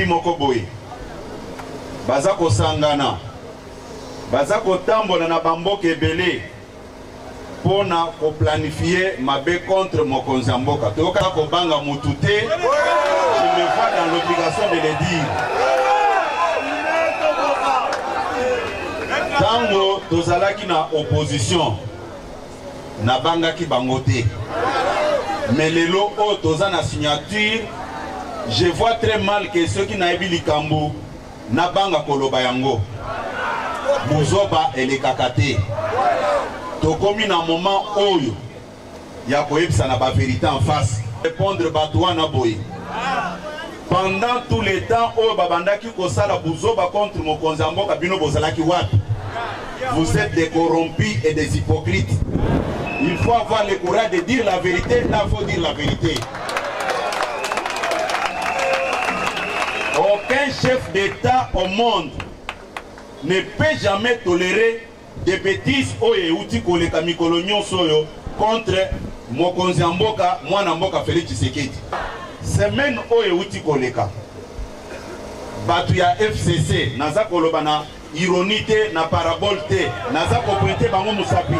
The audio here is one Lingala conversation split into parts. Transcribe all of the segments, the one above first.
moko boye baza kosangana baza kotambola na bamboka ebele mpo na koplanifie mabe contre mokonzi ya mboka toyoka kobanga motu te je me vois dans l'obligation de le dire ntango tozalaki na opposition nabangaki bango te mais lelo oyo toza na signature je vois très mal ke soki nayebi likambo nabanga koloba yango buzoba elekaka te tokomi na moment oyo ya koyebisa na baverité en face répondre bato wana boye Pendant tout le temps oyo babandaki kosala buzoba contre mokonzi ya mboka bino bozalaki wapi? Vous êtes des corrompus et des hypocrites. Il faut avoir le courage de dire la vérité, là faut dire la vérité. Aucun chef d'État au monde ne peut jamais tolérer Des betises oyo ewuti koleka mikolo nionso oyo contre mokonzi ya mboka mwana mboka Felix Tshisekedi. Semaine oyo ewuti koleka bato ya FCC naza koloba na ironie te na parabole te naza kopointe bango mosapi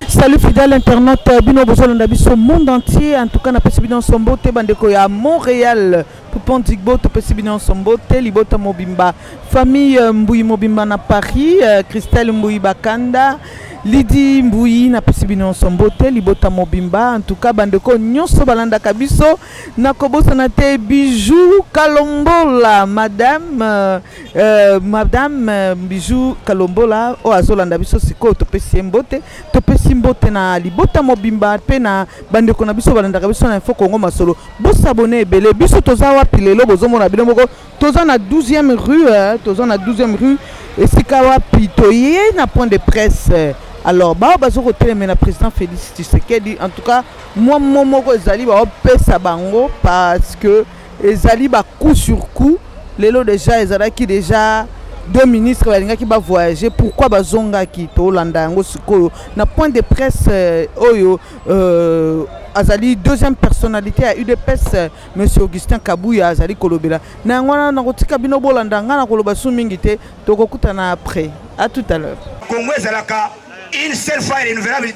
salut fidèle internaute bino bozolanda biso monde entier en tout cas napesi bino nso mbote bandeko ya montréal Poupon Digbo topesi bino nyonso mbote libota mobimba famille euh, Mbuyi mobimba na Paris euh, Christelle Mbuyi Bakanda Lidi Mbuyi napesi bino nyonso mbote libota mobimba en tout cas bandeko nyonso balandaka biso nakobosana te Bijou Kalombola madame euh, euh madame euh, Bijou Kalombola oyo azolanda biso sikoyo topesi ye mbote topesi mbote na libota mobimba mpe na bandeko na biso balandaka biso na info Congo Masolo Bo s'abonner ebele biso toza wapi lelo bozomona bino moko toza na 12e rue eh, toza na 12e rue esika wapi toye na point de presse eh. alors baoyo bazo koteleme na président félix tshisekedi en tout cas mwa mo moko ezali baopesa bango parce que ezali bacoup sur coup lelo déjà ezalaki déjà deux ministres balingaki bavoyage pourquoi bazongaki tolanda yango sikoyo na point de presse eh, oyo Euh, azali deuxième personnalité ya udps euh, monsieur augustin kabuya azali kolobela na yango wana nakotika bino bolanda ngai nakoloba su mingi te tokokutana après à tout à l'heure congo ezalaka une seule fois renouvelable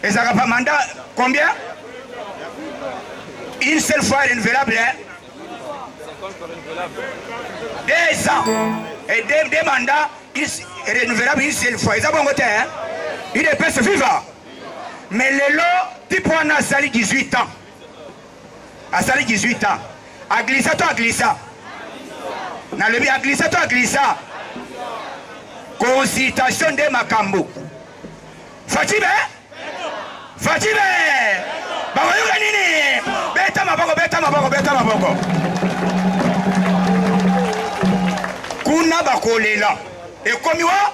ezalaka pa mandat combien une seule fois renouvelable hein? deux ans et deux, deux mandats renouvelable une seule fois eza bongo te hein? udps viva mais lelo type wana asali 18 ans asali 18 ans aglisa to aglisa nalobi aglisa to aglisa consultation nde makambo fatibe fatibe bakoyoka nini beta maboko beta maboko beta maboko kuna bakolela ekomi wa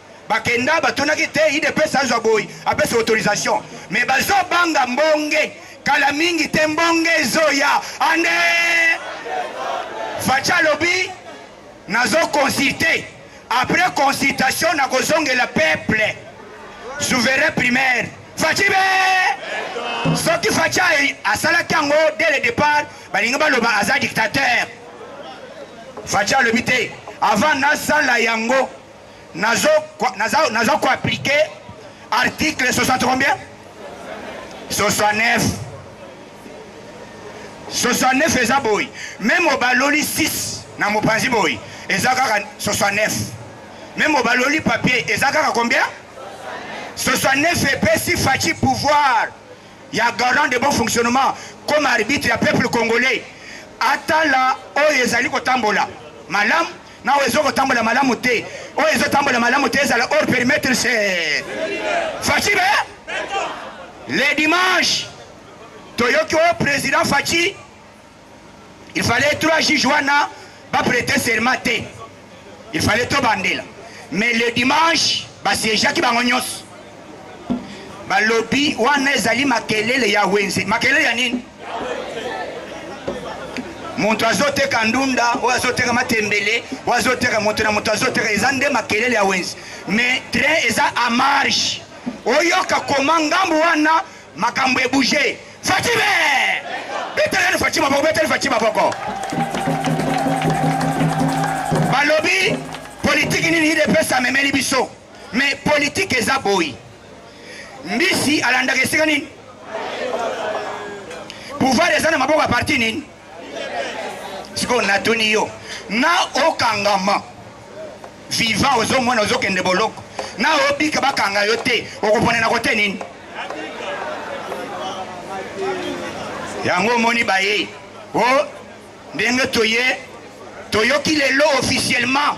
Bakenda batunaki te udps azwa boyi apesa autorisation mais bazo banga mbonge kala mingi te mbonge ezoya ande facha alobi nazo consulte après consultation nakozongela peuple souverain primaire faci be soki faci asalaki yango dès le départ balingi baloba aza dictateur faci alobi te avant nasala yango nazo naza naza ko appliquer article 60 combien 69 69 eza boy meme obaloli 6 na mopanzi boy eza kaka 69 meme obaloli papier eza kaka combien 69 epesi faci pouvoir ya garant de bon fonctionnement comme arbitre ya peuple congolais atala oyo ezali kotambola malamu Nao ezo kotambola malamu te. Oyo ezo tambola malamu te ezala hors perimetre c'est Fatshi be. Le dimanche toyoki oyo président Fatshi il fallait trois juges wana ba prêter serment te. Il fallait tobandela. Mais le dimanche basiégeaki bango nyonso. Balobi wana ezali makelele ya wenze. Makelele ya nini? moto azoteka ndunda oyo azoteka matembele oyo azoteka moto na moto azoteka eza nde makelele ya wenzi mais train eza a marge oyoka koma ngambo wana makambo ebouge fatime betelani faci maboko beteli faci maboko balobi politiki nini idps amemeli biso Mais politique eza boyi. Mbisi alandaka esika nini? Pouvoir eza na maboko ya parti nini? Siko natuni yo. Na okangama. Vivant ozomona ozokende boloko. Na obika bakanga yo te. Okopona na kote nini? yango omoni baye o oh, ndenge toye toyoki lelo officiellement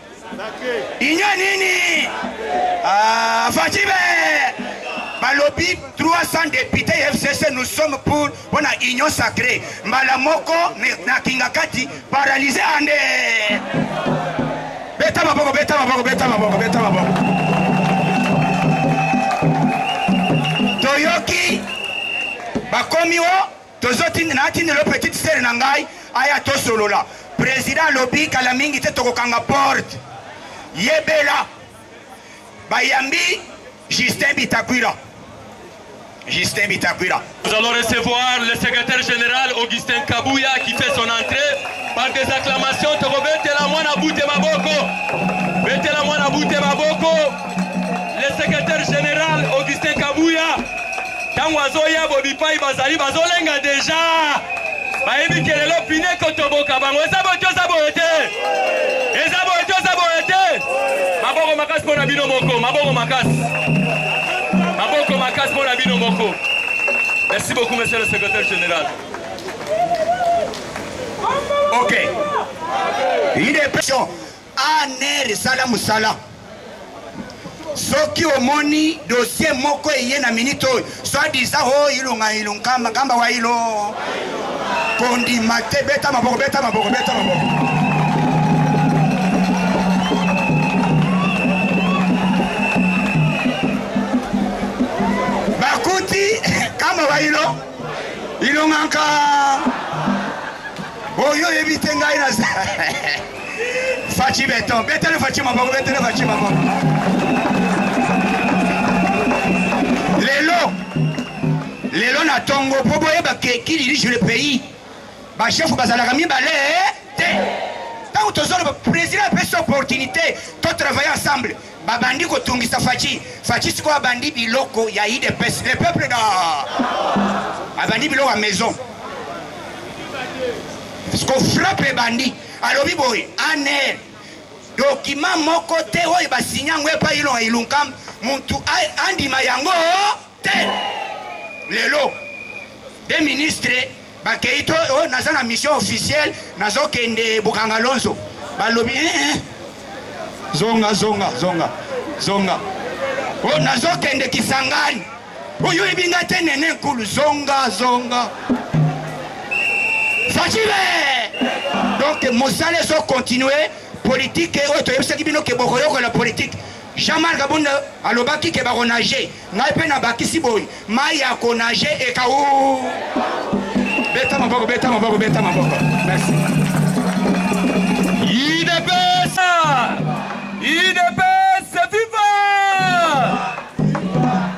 Union nini? Ah, Fachibe! balobi 300 députés ya fcc nous sommes pour mpo na union sacrée mbala moko na kingakati paralyse ande beta maboko beta maboko beta maboko beta maboko toyoki bakomi o Tozo tinda na tinda lo petite sœur na ngai aya to solola. President alobi kala mingi te tokokanga porte. Yebela bayambi Justin Bitakwira. Justin Bitakwira. Nous allons recevoir le secrétaire général Augustin Kabuya qui fait son entrée par des acclamations. Tokobetela mwana bute maboko. Betela mwana bute maboko. le secrétaire général augustin kabuya ntango azoya bobipai bazali bazolenga deja bayebi ke lelo pine kotoboka bango eza boye toza boye te eza boye toza boye te maboko makasi mpo na bino moko maboko makasi maboko makasi mpo na bino moko merci beaucoup monsieur le secrétaire général ok idepession ANR esala musala. Soki omoni dossier moko eye na minute oyo, soit disant oh ilunga ilunkamba kamba wa ilo. Kondima te beta maboko beta maboko beta maboko. bayilo ilongaka oyo oyebi te ngai na Fatshi beton, betele Fatshi maboko, betele Fatshi maboko. Lelo, lelo na tongo po boyeba ke qui dirige le pays. Ba chef bazalaka mibale eh, te. Ntango tozoloba président apesi opportunité to travailler ensemble Babandi kotungisa Fatshi. Fatshi sikoyo abandi biloko ya IDPS. Le peuple da abandi biloko ya maison. Siko frappe ebandi. Alobi boye aner document moko te oyo basinya yango epai ilonga ilunkam mutu andima yango te lelo de ministre bakei to oh, naza na mission officielle nazokende bukanga lonzo balobi eh, eh. zonga zonga zonga zonga o oh, nazokende kisangani oyo oyebi ngai te nene nkulu zonga zonga facibe donc mosala ezokontinue politike oyo toyebisaki bino ke bokoyokola politike Jean-Marc Abonde alobaki ke bakonage ngai mpe nabakisi boye mai ya konage ekau beta maboko beta maboko beta maboko merci idps idps viva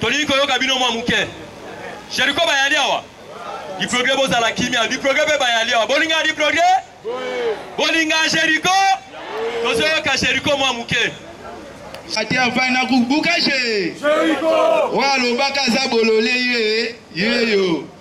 tolingi koyoka bino mwa moke jeriko bayali awa diprogre bozala kimia diprogre mpe bayali awa bolinga diprogre bolinga jeriko tozoyoka jeriko mwa moke ati afai na kubuka je oyo alobaka aza bolole ye yeyo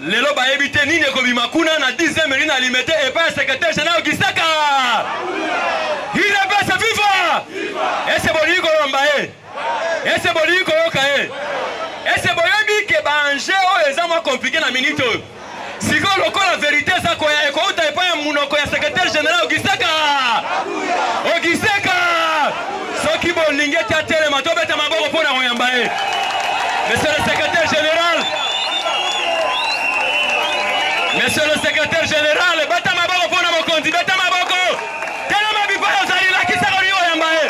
Lelo bayebi te nini ekobima kuna na 10e mairie na Limete epai ya secretaire general Gisaka. Udps viva! Ese bolingi kolomba ye? Ese bolingi koyoka ye? Ese boyebi ke ba enjeu oyo eza mwa compliqué na minute oyo? Sikoyo lokola verite eza koya ekouta epai ya munoko ya secretaire general Gisaka. soki bolingi ete atelema tobeta maboko mpo na koyamba ye monsieur le secrétaire général monsieur le secrétaire général beta maboko mpo na mokonzi beta maboko telema bipai ozali lakisa kolingi koyamba ye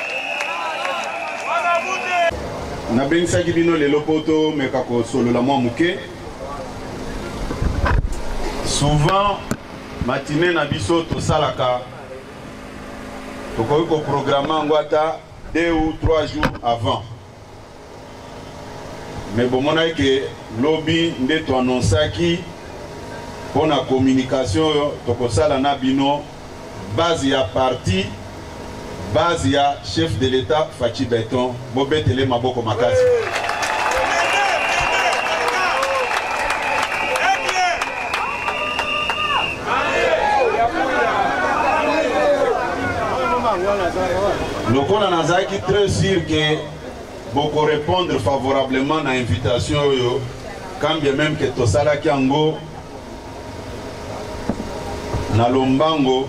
nabengisaki bino lelo mpo tomeka kosolola mwa moke souvent matine na biso tosalaka tokoki koprograme yango ata deux ou trois jours avant me bomonaki ke lobi nde toannonsaki mpo na communication oyo tokosala na bino base ya parti base ya chef de l'etat faci beton Bobetele ye maboko makasi. Lokola nazalaki très sûr que bokorepondre favorablement na invitation oyo quand bien même que tosalaki yango na lombango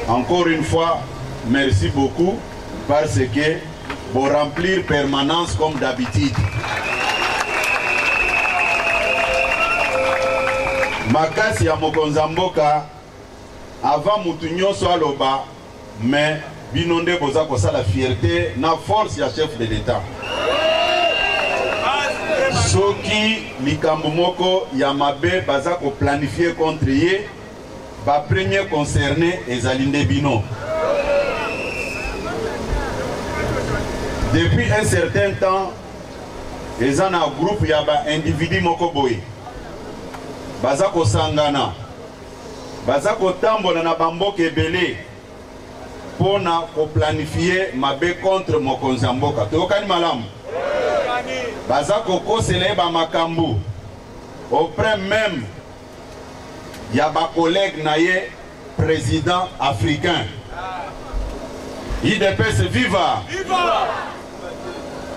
Encore une fois, merci beaucoup parce que pour remplir permanence comme d'habitude. makasi ya mokonzi ya mboka avant mutu nyonso aloba mais bino nde boza kosala fierté na force ya chef de l'etat soki likambo moko ya mabe baza koplanifie contre ye Ba premier concerne ezali nde bino. Depuis un certain temps, eza na groupe ya ba individu moko boye baza kosangana baza kotambola na bamboka ebele mpo na koplanifie mabe contre mokonzi ya mboka toyokani malamu baza kokosela ye bamakambo auprès meme ya ba collègues na ye président africain idps viva, viva!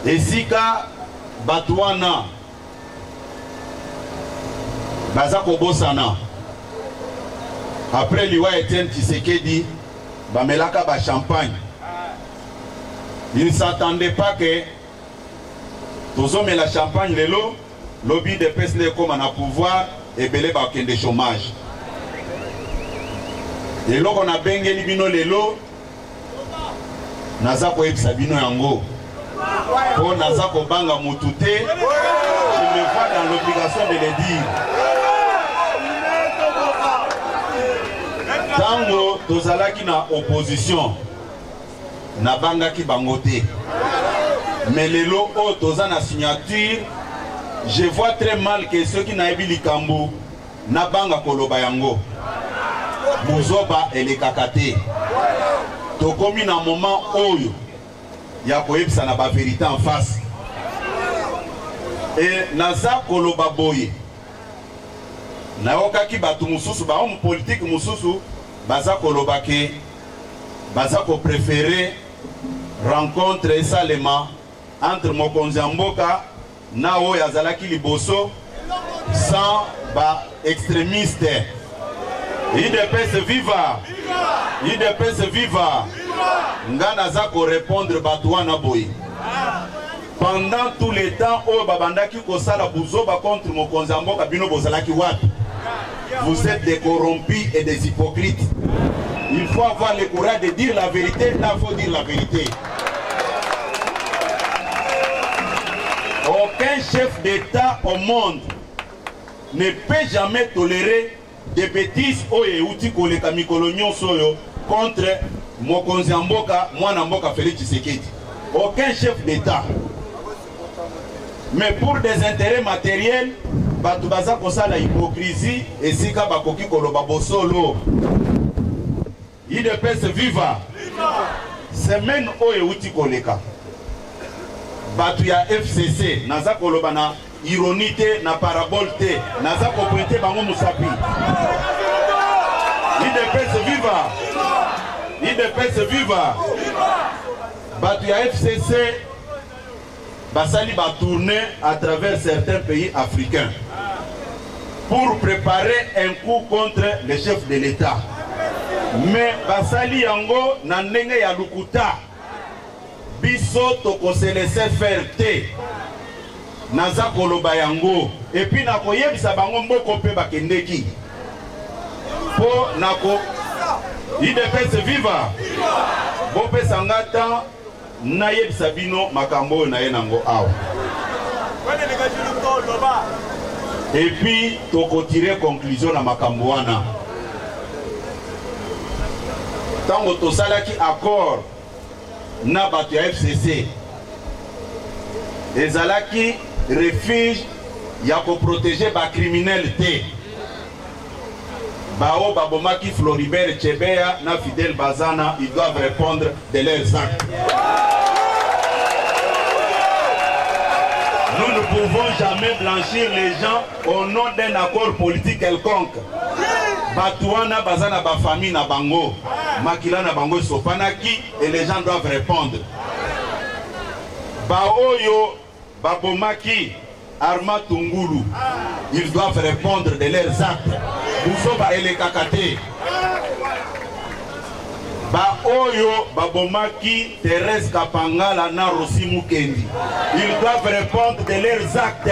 esika bato wana baza kobosana après liwa etienne tshisekedi bamelaka ba champagne il ne s'attendait pas que tozomela champagne lelo Lobi udps nde ekoma na pouvoir ebele bakende chomage. Eloko na bengeli bino lelo naza koyebisa bino yango mpo naza kobanga motu te je me vois dans l'obligation de le dire ntango tozalaki na opposition nabangaki bango te mais lelo oyo toza na signature je vois très mal ke soki nayebi likambo nabanga koloba yango buzoba elekaka te tokomi na moment oyo ya koyebisa na baverité en face e naza koloba boye nayokaki bato mosusu bahomme politike mosusu baza koloba ke baza ko prefere rencontre esalema entre mokonzi ya mboka na oyo azalaki liboso sans ba extremiste idps viva idps viva nga naza korepondre bato wana boye Pendant tout le temps oyo babandaki kosala buzoba contre mokonzi ya mboka bino bozalaki wapi? Vous êtes des corrompus et des hypocrites. Il faut avoir le courage de dire la vérité, là faut dire la vérité. Aucun chef d'État au monde ne peut jamais tolérer Des betises oyo ewuti koleka mikolo nionso oyo contre mokonzi ya mboka mwana mboka Felix Tshisekedi. Aucun chef d'Etat. Mais pour des intérêts matériels, bato baza kosala hypocrisie esika bakoki koloba bosolo. Udps viva! Semaine oyo euti koleka, bato ya FCC, naza koloba na ironie te, na parabole te, naza kopointe bango mosapi. Udps viva! Udps viva! Bato ya FCC basali ba tourne à travers certains pays africains pour preparer un coup contre le chef de l'État mais basali yango na ndenge ya lukuta biso tokose laisser faire te naza koloba yango epuis nakoyebisa bango mboko mpe bakendeki mpo nako idps viva bopesa nga temps Nayebisa bino makambo oyo naye nango awa. Et puis tokotire conclusion na makambo wana. Tango tosalaki accord na bato ya FCC ezalaki refuge ya koprotege bacriminele te Baoyo babomaki Floribert Chebeya na Fidel Bazana, ils doivent repondre de leurs actes. Nous ne pouvons jamais blanchir les gens au nom d'un accord politique quelconque. bato wana baza na bafamille na bango makila na bango esopanaki et les gens doivent répondre baoyo Babomaki Armand Tungulu. Ils doivent répondre de leurs actes. Buzoba elekaka te. baoyo babomaki Thérèse Kapangala na Rosi Mukendi. Ils doivent répondre de leurs actes.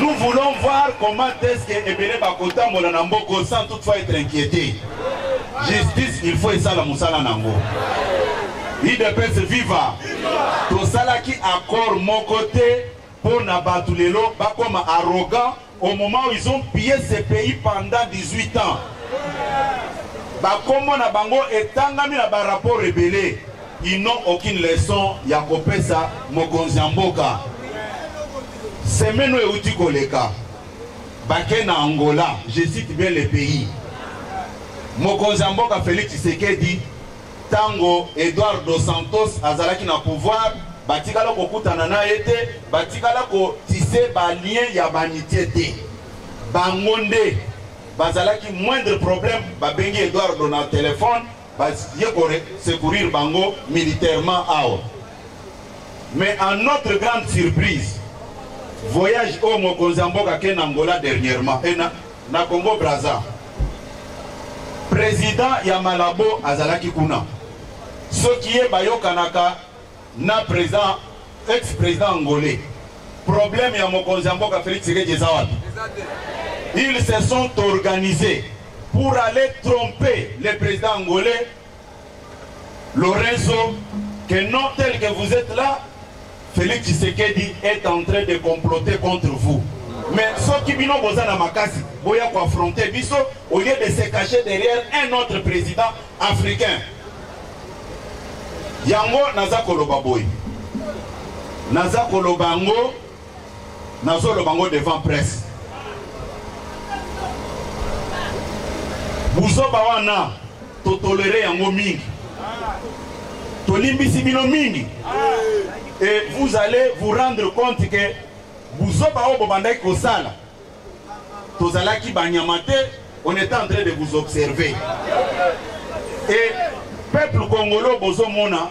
Nous voulons voir comment est-ce que Ebele Bakota Molana Mboko sans toutefois être inquiété. Justice, il faut esala musala nango. Udps viva! Tosalaki accord moko te mpo na bato lelo bakoma arrogant au moment où ils ont pillé ce pays pendant 18 ans. Bakombo na bango etangami na ba rapports ebele. Ils n'ont aucune leçon ya kopesa mokonzi ya mboka. Semaine oyo euti koleka bake na Angola, je cite bien le pays. Mokonzi ya mboka Felix Tshisekedi Tango Edouard dos Santos azalaki na pouvoir, batikala kokutana na ye te, batikala ko tisser ba liens ya ba amities te. Bango nde bazalaki moindre problème babengi Edouardo na telephone baye ko secourir bango militairement awa. Mais à notre grande surprise, voyage oyo mokonzi ya mboka ake na Angola dernièrement, Na Congo Brazza, president ya Malabo azalaki kuna. Soki ye bayokanaka na president ex president angolais, problème ya mokonzi ya mboka Felix Tshisekedi eza wapi? Ils se sont organisés pour aller tromper le president angolais Lorenzo, que non tel que vous êtes là, Félix Tshisekedi est en train de comploter contre vous. Mais ceux qui bino boza na makasi, boya ko affronter biso au lieu de se cacher derrière un autre président africain. Yango naza koloba boy. Naza koloba ngo nazoloba ngo devant presse buzoba wana totolere yango mingi tolimbisi bino mingi et vous allez vous rendre compte que buzoba oyo bobandaki kosala tozalaki banyama te on est en train de vous observer et peuple congolais bozomona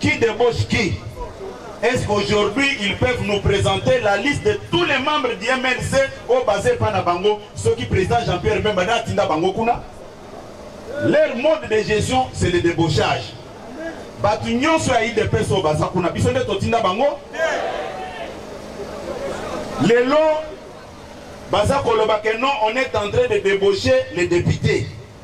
Qui débauche qui Est-ce qu'aujourd'hui ils peuvent nous présenter la liste de tous les membres du MLC au basé par Nabango, ceux qui président Jean-Pierre Bemba Tinda Bango Kuna Leur mode de gestion, c'est le débauchage. bato nyonso ya idps oyo baza kuna biso nde totinda bango lelo baza koloba ke non on est en train de débaucher les députés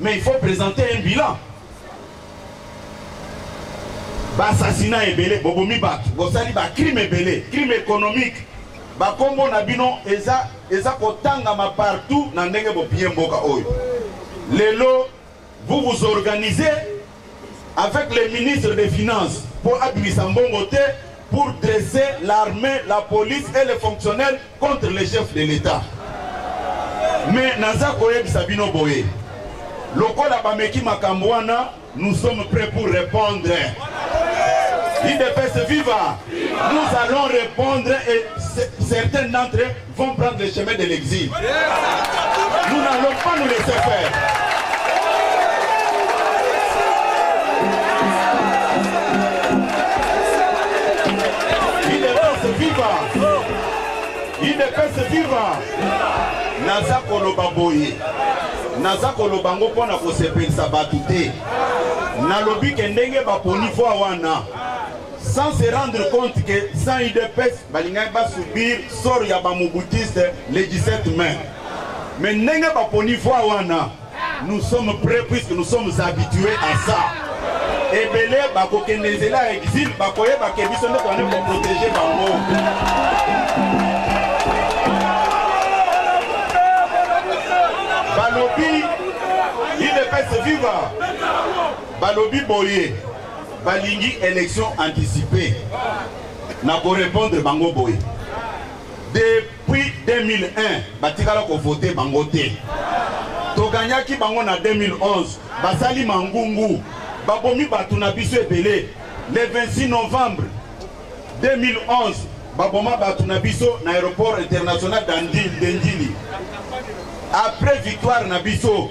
Mais il faut présenter un bilan. Bassassinat ebele, bobomi bato, bosali ba crime ebele, crime économique. Bakombo na bino eza eza kotangama partout na ndenge bopiye mboka oyo. Lelo vous vous organisez avec le ministre des Finances pour abimisa mbongo te pour dresser l'armée, la police et les fonctionnaires contre les chefs de l'État. Mais naza koyebisa bino boye lokola bameki makambo wana nous sommes prêts pour répondre idps viva nous allons répondre et certains d'entre vont prendre le chemin de l'exil. Nous n'allons pas nous laisser faire. Il est temps de vivre. Il est temps de vivre. Naza koloba boye. Naza koloba ngo pona kosepelisa bato te. Nalobi ke ndenge baponi fois wana. sans se rendre compte que sans udps balingaki basubir sort ya bamobutiste le 17 mai mais ndenge baponi voi wana nous sommes prêts puisque nous sommes habitués à ça ebele bakokende nzela ya exil bakoyeba ke biso nde toyani koprotege bango balobi udps viva balobi boye balingi election anticipe na korepondre bango boye depuis 2001 batikala kovote bango te toganyaki bango na 2011 basali mangungu babomi bato na biso ebele le 26 novembre 2011 baboma bato na biso na aéroport international de ndjili après victoire na biso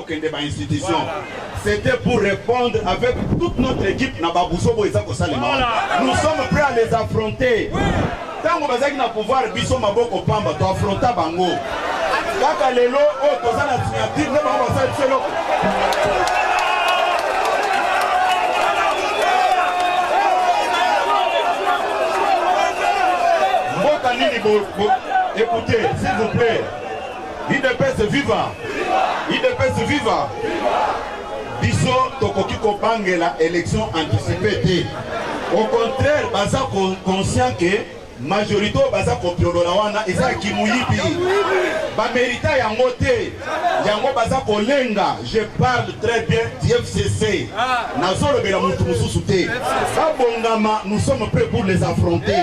kokende ba institution c'était pour répondre avec toute notre équipe na babusobo eza kosalema wana nous sommes prêts à les affronter ntango bazalaki na pouvoir biso maboko pamba toaffronta bango kaka lelo oyo toza na signature nde bango basala biso eloko mboka nini écoutez s'il vous plaît Udps viva! Udps viva! Biso tokoki kobangela election anticipée te. Au contraire, baza conscient que majorité oyo baza kopiolola wana eza ya kimuyibi. Bamerita yango te. Yango baza kolenga. Je parle très bien du FCC. Nazolobela mutu mususu te. Babongama, nous sommes prêts pour les affronter.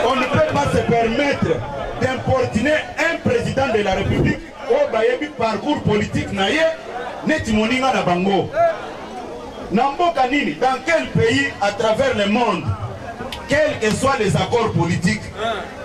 On ne peut pas se permettre d'importuner un président de la République oyo bayebi parcours politique na ye neti moninga na bango na mboka nini dans quel pays à travers le monde quels que soient les accords politiques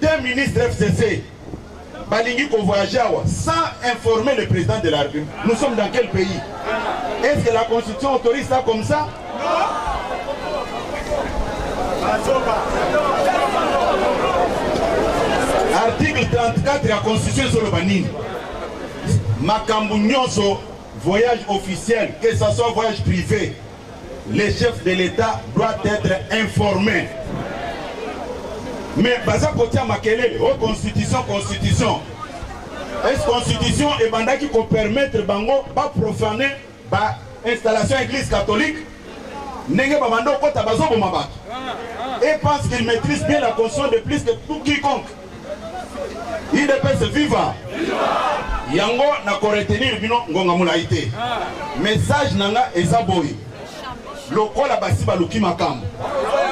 Deux ministres FCC balingi ko voyager awa sans informer le président de la République. Nous sommes dans quel pays? Est-ce que la constitution autorise ça comme ça? Article 34 ya constitution ezoloba nini? Makambo nyonso voyage officiel, que ça soit voyage privé, Le chef de l'Etat doit être informé. Mais baza kotia makelele o oh, constitution constitution. Est constitution ebandaki ko permettre bango ba profaner ba installation église catholique ndenge babanda okota bazoboma bato et parce qu'il maîtrise bien la conscience de plus que tout quiconque idps viva yango na koretenir bino ngonga molai te message na nga eza boye lokola basi baluki makambo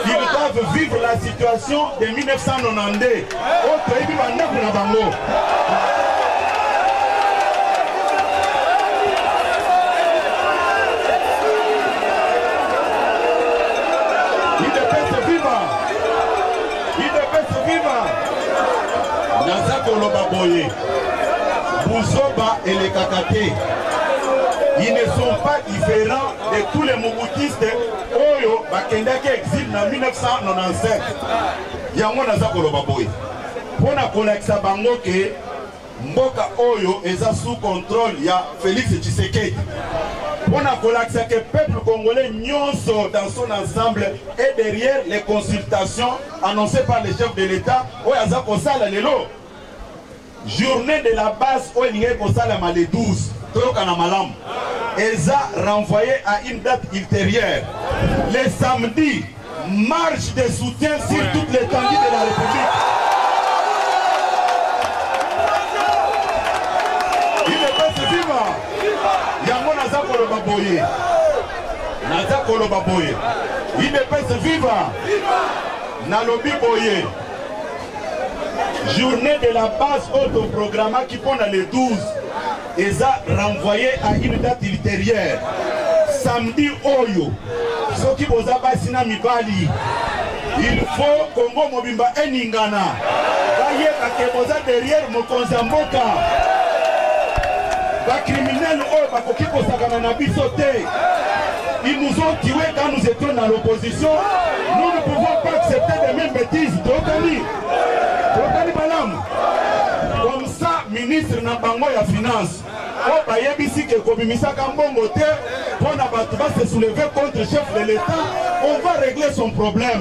ils doivent vivre la situation de 1992 oyo toyebi bandako na bango udps viva naza koloba boye buzoba elekaka te ils ne sont pas différents de tous les mobutistes oyo bakendaki exil na 1997 yango naza koloba boye mpo na kolakisa bango ke Mboka oyo eza sous contrôle ya Felix Tshisekedi. On a kolakisa que peuple congolais nionso dans son ensemble est derrière les consultations annoncées par le chef de l'État oyo aza kosala lelo. Journée de la base oyo elingaki kosalama le 12 toyokana malamu eza renvoyé à une date ultérieure le samedi Marche de soutien sur toute l'étendue de la République. Udps viva! Yango naza koloba boye. Naza koloba boye. Udps viva! Nalobi boye. Journée de la base autoprogrammaki mpo na le 12 eza renvoye à une date ultérieure samedi oyo soki boza basi na mibali il faut kongo mobimba eningana bayeba ke boza derrière mokonzi ya mboka bakriminele oyo bakoki kosakana na biso te ils nous ont tués quand nous étions dans l'opposition nous ne pouvons pas accepter de même bêtise tokani tokani balamu sa ministre na bango ya finance oyo bayebisi ke kobimisaka mbongo te mpo na bato ba se soulever contre chef de l'etat on va régler son problème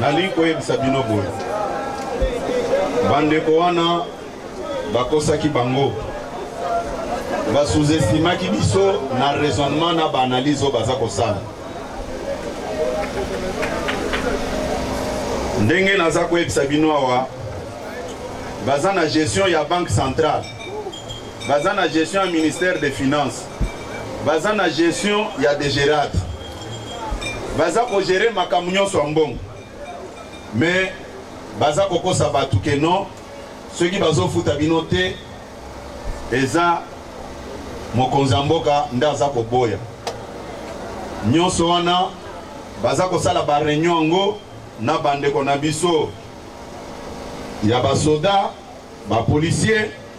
Nalingi koyebisa bino boye, bandeko wana bakosaki bango, basuzestimaki biso na raisonnement na baanalyse oyo baza kosala. Ndenge naza koyebisa bino awa, baza na gestion ya banque centrale, baza na gestion ya ministère des finances. baza na gestion ya degerate baza kogere makambo nyonso ya mbongo me baza kokosa bato ke non soki bazofuta bino te eza mokonzi ya mboka nde aza koboya nyonso wana baza kosala bareunion yango na bandeko na biso ya basoda bapolisier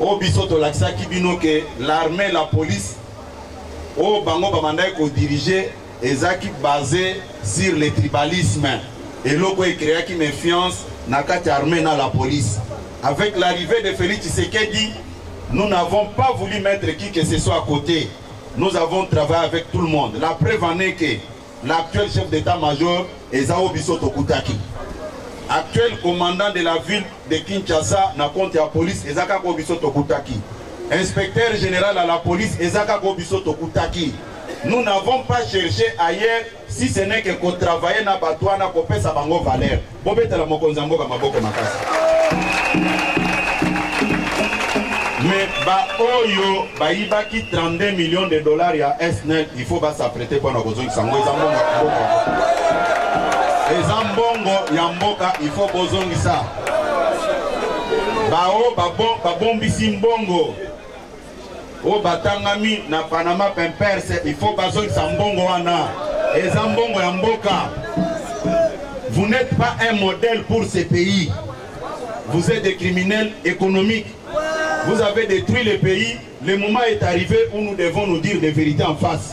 oyo biso tolakisaki bino ke l'armée la police oyo bango babandaki kodirige ezalaki base sur le tribalisme eloko ekreaki méfiance na kati ya armée na la police avec l'arrivée de félix tshisekedi nous n'avons pas voulu mettre qui que ce soit à côté nous avons travaillé avec tout le monde la preuve en est que L'actuel chef d'état-major eza o biso tokutaki. Actuel commandant de la ville de Kinshasa na compte ya police eza kaka o biso tokutaki. Inspecteur général à la police eza kaka o biso tokutaki. Nous n'avons pas cherché ailleurs si ce n'est que ko travailler na bato wana kopesa bango valeur. Bobetela mokonzi ya mboka maboko makasi. Mais ba oyo bayibaki 32 millions de dollars ya SNEL, il faut ba s'apprêter pour na kozongisa ngo eza mbongo ya mboka. Eza mbongo ya mboka, il faut bozongisa. Bao babombisi mbongo oyo batangami na panama pimpers il faut bazongisa mbongo wana eza mbongo ya mboka vous n'êtes pas un modèle pour ce pays vous êtes des criminels économiques vous avez détruit le pays le moment est arrivé où nous devons nous dire des vérités en face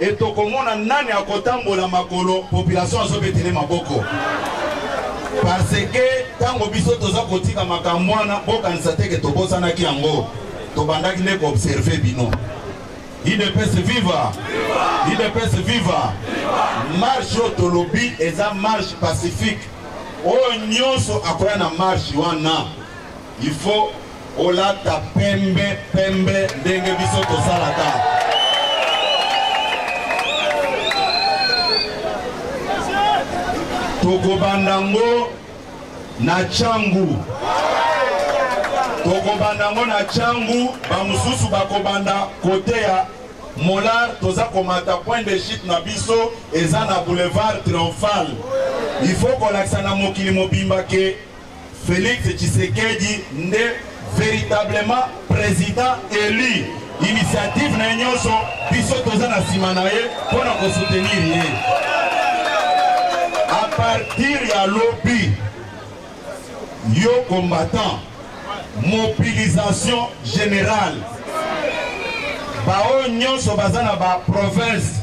Et tokomona nani akotambola makolo population azobetele maboko parce que ntango biso toza kotika makambo wana bokanisa te ke tobosanaki yango tobandaki nde koobserve bino idps viva idps viva marche oyo tolobi eza marche pacifique oyo nyonso akoya na marche wana Il faut olata pembe pembe ndenge biso tosalaka. Tokobanda ngo na changu. Tokobanda ngo na changu, bamususu bakobanda kote ya molar toza komata point de chute na biso eza na boulevard triomphal il faut kolakisa na mokili mobimba ke Felix Tshisekedi nde veritablement president elu. Initiative na ye nyonso biso toza na nsima na ye mpo na kosoutenir ye. A partir ya lobi yo combattant mobilisation générale baoyo nyonso baza na baprovince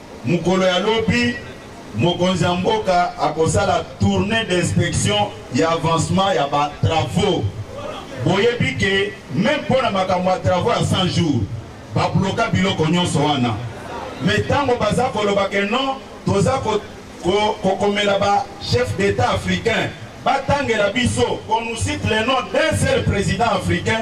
Mokolo ya lobi, mokonzi ya mboka akosala tournee d'inspection ya avancement ya ba travaux. Boyebi ke meme mpo na makambo ya travaux ya 100 jours, ba bloka biloko nyonso wana. Mais tango baza koloba ke non, toza ko kokomela ba chef d'etat africain batangela biso qu'on nous cite le nom d'un seul president africain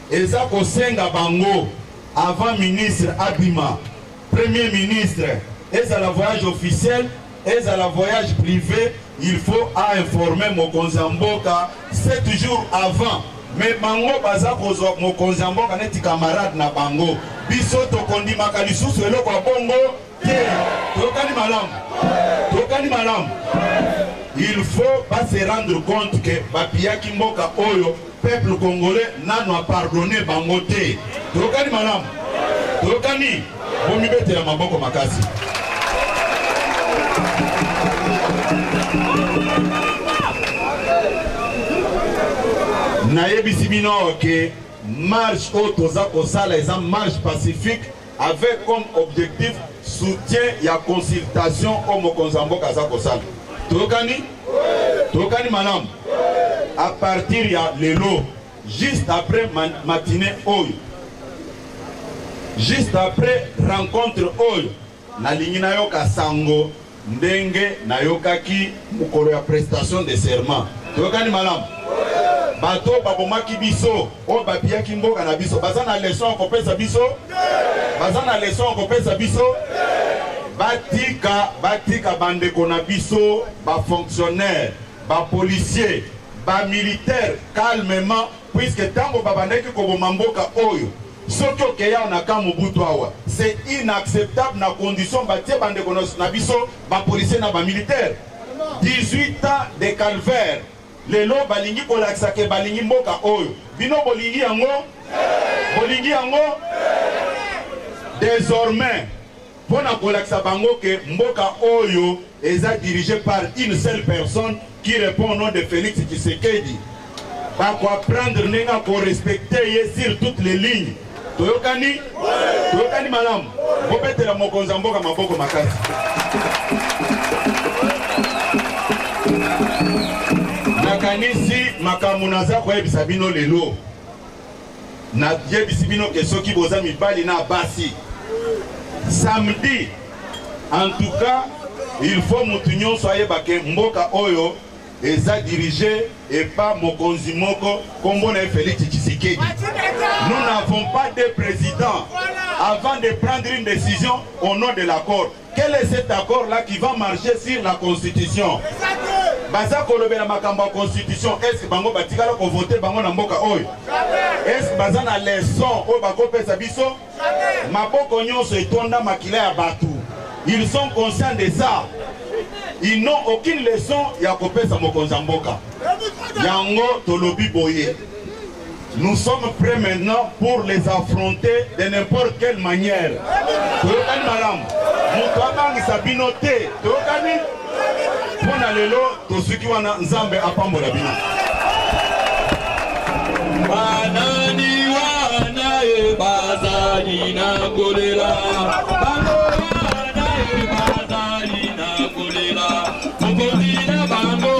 Eza kosenga bango avant ministre abima premier ministre ezala voyage officiel ezala voyage privé il faut a informer mokonzi ya mboka 7 jours avant me bango baza kozwa mokonzi ya mboka neti camarade na bango biso tokondimaka lisusu eloko ya bongo te tokani malamu tokani malamu il faut ba se rendre compte que bapiyaki mboka oyo peuple congolais nano apardonne bango te tokani malamu tokani bomibetela maboko makasi nayebisi bino ke marche oyo toza kosala eza marche pacifique avec comme objectif soutien ya consultation oyo mokonzi ya mboka aza kosala toyokani toyokani malamu à partir ya lelo juste après matinée oyo juste après rencontre oyo nalingi nayoka sango Ndenge nayokaki mokolo ya prestation de serment, toyokani malamu? bato oyo babomaki biso oyo bapiyaki mboka na biso baza na leson ya kopesa biso baza na leson ya kopesa biso batika batika bandeko na biso bafonctionnaire bapolicier bamilitaire calmement puiske ntango babandaki koboma mboka oyo Soki okeyi awa na camp Mobutu awa c'est inacceptable na condition batie bandeko na biso ba policiers na ba militaires 18 ans de calvaire lelo balingi kolakisa ke balingi mboka oyo bino bolingi yango bolingi yango désormais pona kolakisa bango que mboka oyo eza dirige par une seule personne qui repond au nom de Felix Tshisekedi bako apprendre ndenge ako respecter ye sur toutes les lignes toyokani toyokani malamu bobetela mokonzi ya mboka maboko makasi nakanisi makambo naza koyebisa bino lelo Na yebisi bino ke soki boza mibali na basi samedi en tout cas il faut mutu nyonso ayeba ke mboka oyo eza dirige epa mokonzi moko kombo na ye Felix Tshisekedi. Nous n'avons pas de président avant de prendre une décision au nom de l'accord. Quel est cet accord là qui va marcher sur la constitution? Baza kolobela makambo ya constitution, est-ce que bango batikala ko voter bango na mboka oyo? Est-ce que baza na leçon oyo bakopesa biso? Maboko nyonso etonda makila ya bato. Ils sont conscients de ça. Ils n'ont aucune leçon ya kopesa mokonzi ya mboka. Yango tolobi boye. Nous sommes prêts maintenant pour les affronter de n'importe quelle manière. Toyokani malamu. Moto abangisa bino te. Toyokani mpo na lelo tosuki wana Nzambe apambola bino. Banani wana ye bazali na kolela. Bango wana ye bazali na kolela. Mokonzi na bango